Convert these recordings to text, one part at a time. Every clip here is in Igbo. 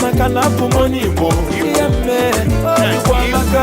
maka na abụ m onye Igbo ihe mme Igbo amaka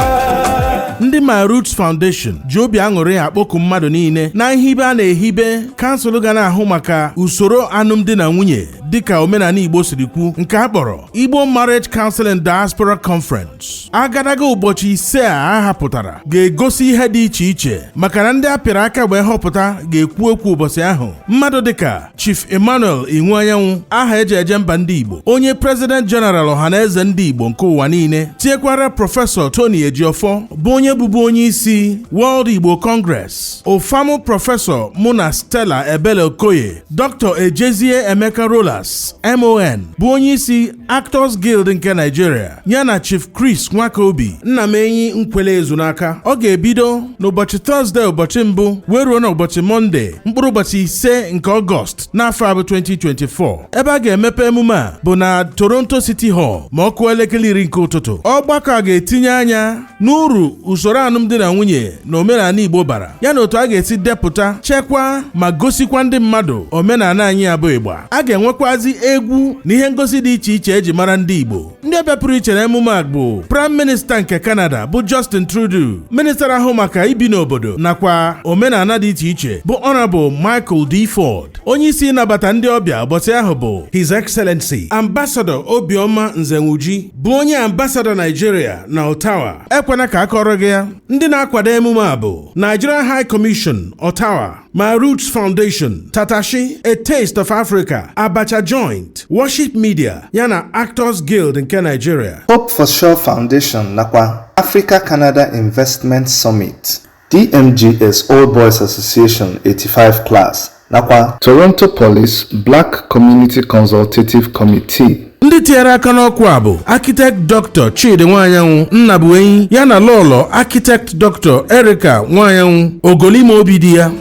ndị My Roots Foundation ji obi aṅụrị akpọku mmadụ niile na nhibe a na-ehibe kansụl ga na-ahụ maka usoro alụmdi na nwunye dịka omenala Igbo siri kwu nke a kpọrọ Igbo Marriage Council in Diaspora Conference agadaga ụbọchị ise a a hapụtara ga-egosi ihe dị iche iche maka na ndị a pịara aka wee họpụta ga-ekwu okwu ụbọchị ahụ mmadụ dịka Chief Emmanuel Iwuanyanwụ aha eji eje mba ndị Igbo onye President General Ọhanaeze ndị Igbo nke ụwa niile tinyekwara Prọfesọ Tony Ejiofor bụ onye bụbu onye isi World Igbo Congress Ofamu Prọfesọ Muna Stella Ebele Okoye Dr. Ejezie Emeka Rollas MON bụ onye isi Actors Guild nke Nigeria ya na Chief Chris Nwakobi Nnamenyi Nkwelle Ezunaka ọ ga-ebido n'ụbọchị Tọzdee ụbọchị mbụ wee ruo n'ụbọchị Mọnde mkpụrụ ụbọchị ise nke Ọgọst n'afọ a bụ 2024 ebe a ga-emepe emume a bụ na Toronto City Hall ma ọ kụọ elekere iri nke ụtụtụ ọgbakọ a ga-etinye anya n'uru usoro alụmdi na nwunye na omenala Igbo bara ya na otu a ga-esi depụta chekwaa ma gosikwa ndị mmadụ omenala anyị a bụ Igbo a ga-enwekwazi egwu na ihe ngosi dị iche iche eji mara ndị Igbo ndị ọbịa pụrụ iche na emume a bụ Prime Minista nke Canada bụ Justin Trudeau minista na-ahụ maka ibi n'obodo nakwa omenala dị iche iche bụ Honorable Michael D. Ford onye isi ịnabata ndị ọbịa ụbọchị ahụ bụ His Excellency Ambassador Obioma Nzewuji bụ onye ambasadọ Naijiria na Ottawa ekwena ka a kọọrọ gị ya ndị na-akwado emume a bụ Nigerian High Commission Ottawa My Roots Foundation Tatashi A Taste of Africa Abacha Joint Worship Media yana Actors Guild nke Nigeria Hope for Sure Foundation nakwa Africa Canada Investment Summit DMGS Old Boys Association 85 Class nakwa Toronto Police Black Community Consultative Committee. ndị tinyere aka n'oku a bụ architect dr chidi nwaanyanwụ nnabuenyi ya na lọlọ architect dr erika nwaanyanwụ ogoli ime obi di ya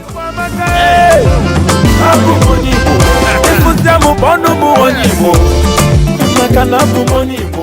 Abụ m onye Igbo. Ịfụsịa m bụ onye Igbo. Maka na abụ m onye Igbo.